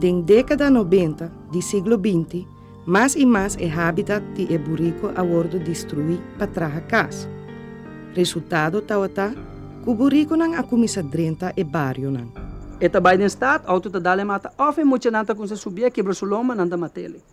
Den dékada nobenta di siglo binti, mas i mas e hábitat di e buriku a wòrdu destruí pa traha kas. Resultado tawata ku burikunan a kuminsá drenta e barionan. E ta bai den stad, outo ta dal e mata òf e muchanan ta kuminsá subié, kebra su lomba, nan ta mat'é li.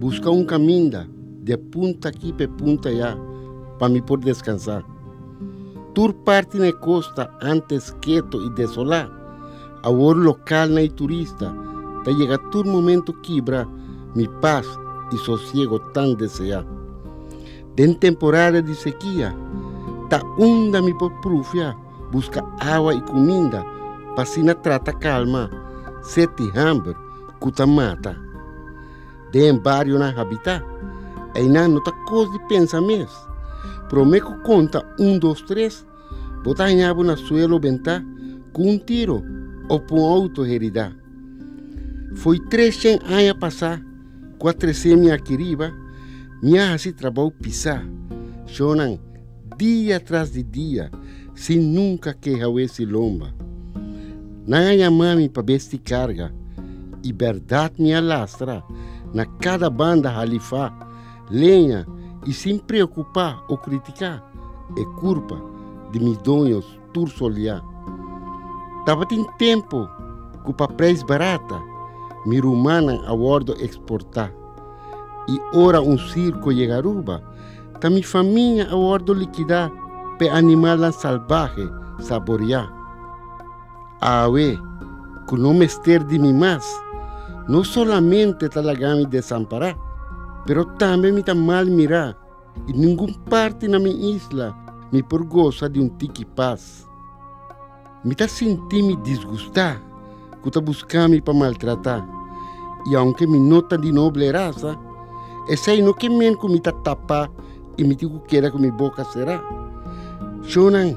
Buska un kaminda de punta aki pa e punta ya pa mi por deskansá. Tur parti na e kosta ántes ketu i desolá, awor lokalnan i turista ta yega tur momentu kibra mi pas i sosiego tan deseá. Den temporada di sekia ta unda mi por prufia. buska awa i kuminda pa asina trata kalma set di hamber ku ta mata den barionan habitá. Einan no ta kos di pensa mes. Promé ku konta un dos tres bo ta hañá bo na suelo bentá ku un tiro òf ku un outo heridá. Foi tres shen aña pasá. ku a trese mi aki riba, mi a hasi trabou pisá shonnan dia tras di dia sin nunka ke hawesi lomba. Nan a yamá mi pa besti karga, i bèrdat mi a lastra na kada banda halifá, leña i sin preokupá o kritiká e kurpa di mi doños. tur soliá. Tabatin tempu ku pa preis barata mi rumannan a wòrdu eksportá, i ora un sirko yega Aruba ta mi famia a wòrdu likidá pa e animalnan salbahe saboriá. Awe ku no mester di mi mas, no solamente ta laga mi desampará, pero tambe mi ta mal mirá. I ningun parti na mi isla mi por gosa di un tiki pas. Mi ta sinti'mi disgustá ku ta buska mi pa maltratá, i aunke mi no ta di noble rasa, esei no ke men ku mi ta tapá i mi tin ku keda ku mi boka será. Shonnan,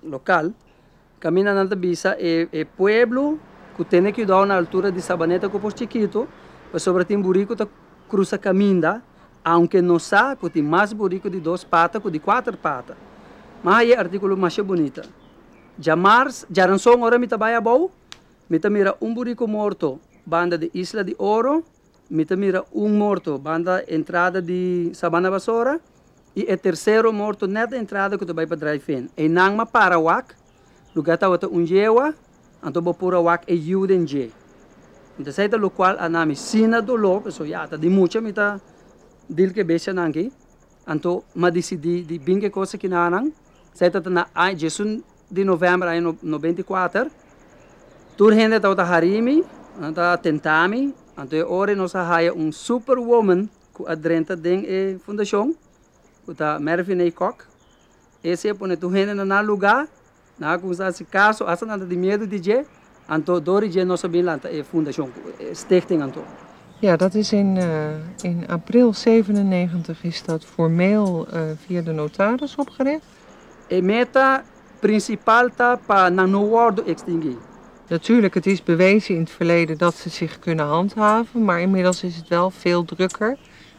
Local, Caminda nan ta bisa e e pueblo cu tene cuidao na altura di Sabaneta cu Post Chikito pasobra tin buri cu ta crusa caminda aunke nos sa cu tin mas buri cu di dos pata cu di cuater pata. Ma haye articulo masha bunita. Djamars, Djaranson ora mi ta bay abao mi ta mira un buri cu morto banda di Isla di Oro. Mi ta mira un morto banda entrada di Sabana Basora y e tercero morto net na entrada cu ta bay pa Drive-In. Eynanma a para wak, lugar tawata un yehua, anto bo pura wak e yiu den dje. Mi ta say ta locual a na mi sina dolor, pasobra ya ta di mucha mi ta deal cu e bestianan aki. Anto m'a disidí di bin ke kos aki na nan. Esei tabata na aña diesun di novèmber aña nobenta i kuater. Tur hende tabata harí mi, nan ta tentá mi, anto e ora ei nos a haya un super woman ku a drenta den e fundashon, ku ta Mervynee Kok. Ese a pone tur hende na nan lugá, Nan a cuminsa haci caso hasta nan ta tin miedu di dje, anto dor dje nos a bin lanta e fundacion, e stichting anto. Ja, dat is in in april zevenennegentig is dat formeel via de notaris opgericht. E meta principal ta pa nan no wordo extingui. Natuurlijk, het is bewezen in het verleden dat ze zich kunnen handhaven, maar inmiddels is het wel veel drukker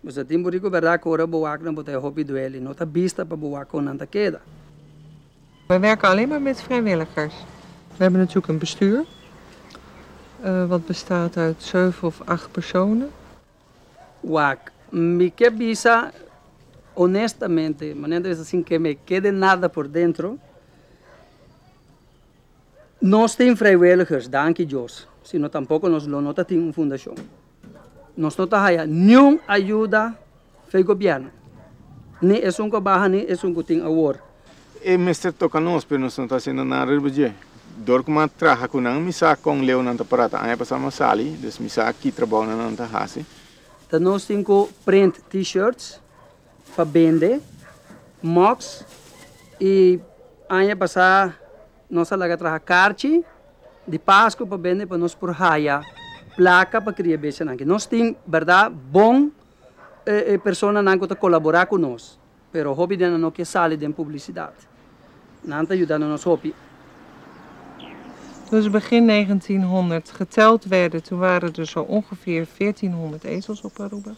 Bo sa tin borico berdad cu ora bo wak na bo ta e hopi dueli, no ta bista pa bo wak con nan ta keda. Wij werken alleen maar met vrijwilligers. We hebben natuurlijk een bestuur wat bestaat uit zeven of acht personen. Wak, mi ke bisa honestamente, manera ta bisa sin ke me kede nada por dentro, nos tin vrijwilligers, danki Dios, sino tampoco nos lo no ta tin un fundacion. Nos no ta haya niun ayuda fei gobièrnu, ni esun ku a baha ni esun ku tin awor. E mester toka nos, pero nos no ta hasiendo nada riba dje. Dor ku mi a traha ku nan, mi sa kon leu nan ta prata. Aña pasá mi a sali, dus mi sa ki trabounan nan ta hasi. Ta nos tin ku print T-shirts pa bende, mugs i aña pasá. Nos a laga traha karchi di pasku pa bende pa nos por haya plaka pa kria bestianan aki. Nos tin berda bon personanan ku ta kolabora ku nos, pero hopi di nan no ke sali den publisidat. Nan ta yudando nos hopi. Dus begin negentien honderd geteld werde, tu ware der so ongeveer veertien honderd ezels op Aruba.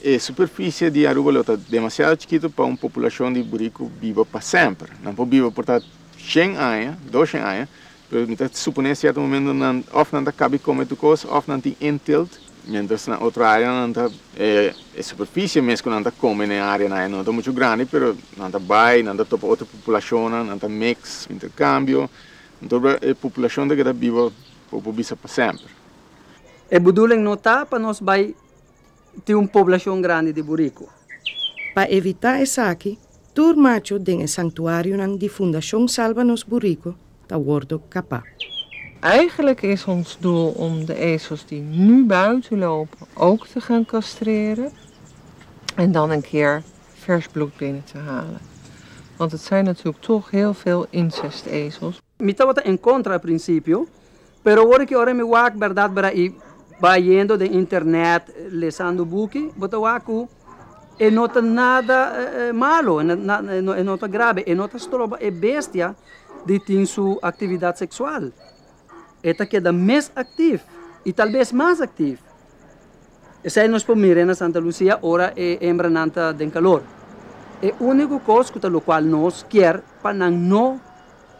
E superficie di Aruba lo ta demasiado chikito pa un populacion di buriku biba pa semper. Nan por biba por ta shen aña, doshen aña, pero mi ta supone cierto momento nan of nan ta cabi come tur cos of nan tin intilt, mientras na otro area nan ta e superficie mes cu nan ta come n'e area nan no ta mucho grandi pero nan ta bay, nan ta topa otro populacionnan, nan ta mix, intercambio, anto e populacion ta keda biba por por bisa pa semper. E buduling no ta pa nos bay tin un poblashon grandi di buriku. Pa evitá esaki, tur macho den e sanktuarionan di Fundashon Salba Nos Buriku ta wòrdu kapá. Eigelijk is ons doel om de ezels die nu buiten lopen ook te gaan castreren en dan een keer vers bloed binnen te halen. Want het zijn natuurlijk toch heel veel incestezels. Mi tabata en contra al principio, pero awor ki ora mi wak berdad bera y bayendo den internet lesando buki, bo ta wak cu e no ta nada malo, e no ta grabe, e no ta stroba e bestia di tin su actividad sexual, e ta keda mes activ y tal bes mas activ. Esei nos por mire na Santa Lucia ora e hembranan ta den calor. E unico cos cu ta locual nos kier pa nan no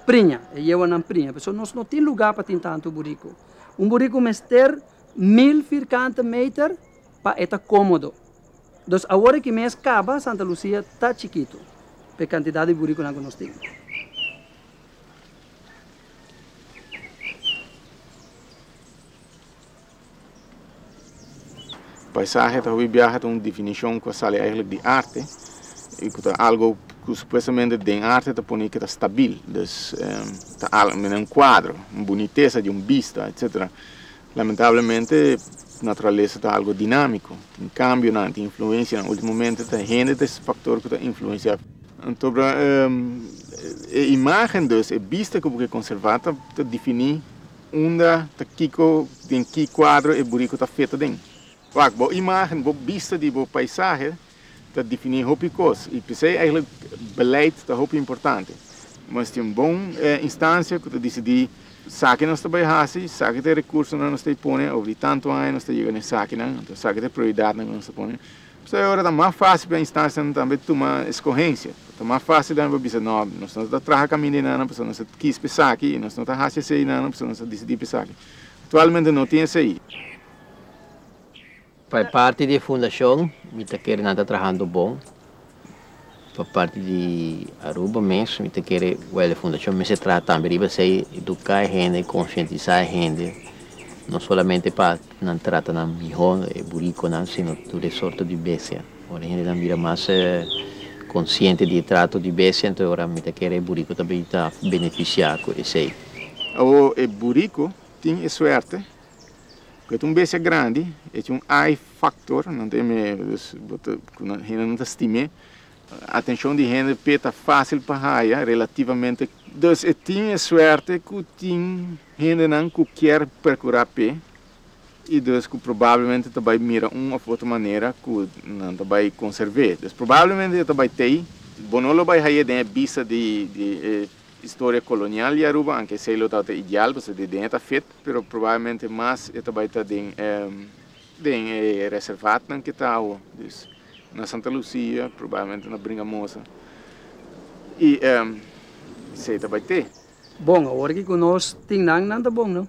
priña, e yehuanan priña. Pasobra nos no tin lugar pa tin tanto burico. Un burico mester mil vierkante meter pa e ta comodo. Dus awor aki mes caba Santa Lucia ta chikito pa e cantidad di buriconan cu nos tin. Paisahe ta hopi biaha ta un definishon ku a sali eigenlijk di arte i ku ta algu ku supuestamente den arte ta pone ke ta stabil. Dus ta al mira un kuadro, un bunitesa di un bista etsetera. Lamentablemente naturalesa ta algu dinamiko, tin kambionan, tin influensianan. Ultimomente ta hende ta e faktor ku ta influensia. Anto e imagen dus, e bista ku bo ke konservá ta definí. Unda ta kiko, den ki kuadro e buriku ta feto den? Wak, bo imágen, bo bista di bo paisahe ta definí hopi kos i p'esei eigenlijk beleid ta hopi importante. Nos tin un bon instansia ku ta disidí saki nos ta bai hasi, saki ta e rekursonan nos ta bai pone, over di tantu aña nos ta yega na e sakinan, anto saki ta e prioridatnan ku nos ta pone. P'esei ora ta mas fásil pa e instansianan tambe tuma eskohensia. Ta mas fásil lena pa bisa, No, nos no ta traha kaminda e nannan pasobra nos ta kis pa esaki i nos no ta hasi esei nannan pasobra nos ta disidí pa esaki. Aktualmente no tin esei. Pa e parti di e fundashon mi ta kere nan ta trahando bon. Pa parti di Aruba mes mi ta kere wele fundashon mester traha tambe riba esei eduka e hende konshientisa e hende no solamente pa nan trata nan miho e burikonan sino tur e sorto di bestia ora e hendenan bira mas konshiente di e trato di bestia enton e ora mi ta kere e buriko ta bin ta benefisia ku esei. Awor e buriko tin e suerte. Cu ta un bestia grandi, e tin un ai factor, nan ta yam'e, dus, bo ta, cu nan, hende nan ta stim'e, atencion di hende p'e ta facil pa haya, relativamente, dus e tin e suerte cu tin hendenan cu kier percura p'e, y dus cu probablemente ta bay mira un of otro manera cu nan ta bay conserv'e, dus probablemente e ta bay t'ey, bo no lo bay hay'e den e bista di, di e. Historia colonial di Aruba, aunke esey lo tabata ideal pasobra di den e ta fit, pero probablemente mas e ta bay ta den e den e reservatnan ke ta awo, dus na Santa Lucia probablemente na Bringamosa y esey ta bay te. Bon, awor ke cu nos tin nan, nan ta bon, no?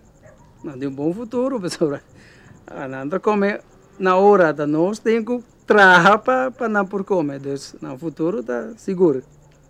Nan tin un bon futuro pasobra nan ta come na ora ata nos tin cu traha pa pa nan por come, dus nan futuro ta sigur.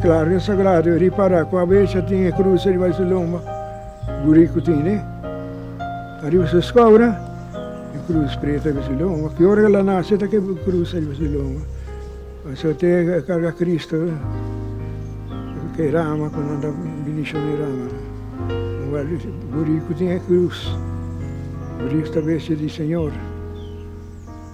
Claro e sagrado ripará ku abes a tin e krus riba di su lomba gurí ku tin e. Ariba su skobra e krus pretu riba su lomba. Ki ora ku el a nase ta keba e krus riba su lomba. Paso te e karga Kristu ke rama ku nan ta bendishon e rama gurí ku tin e krus. Krus ta bes di Señor.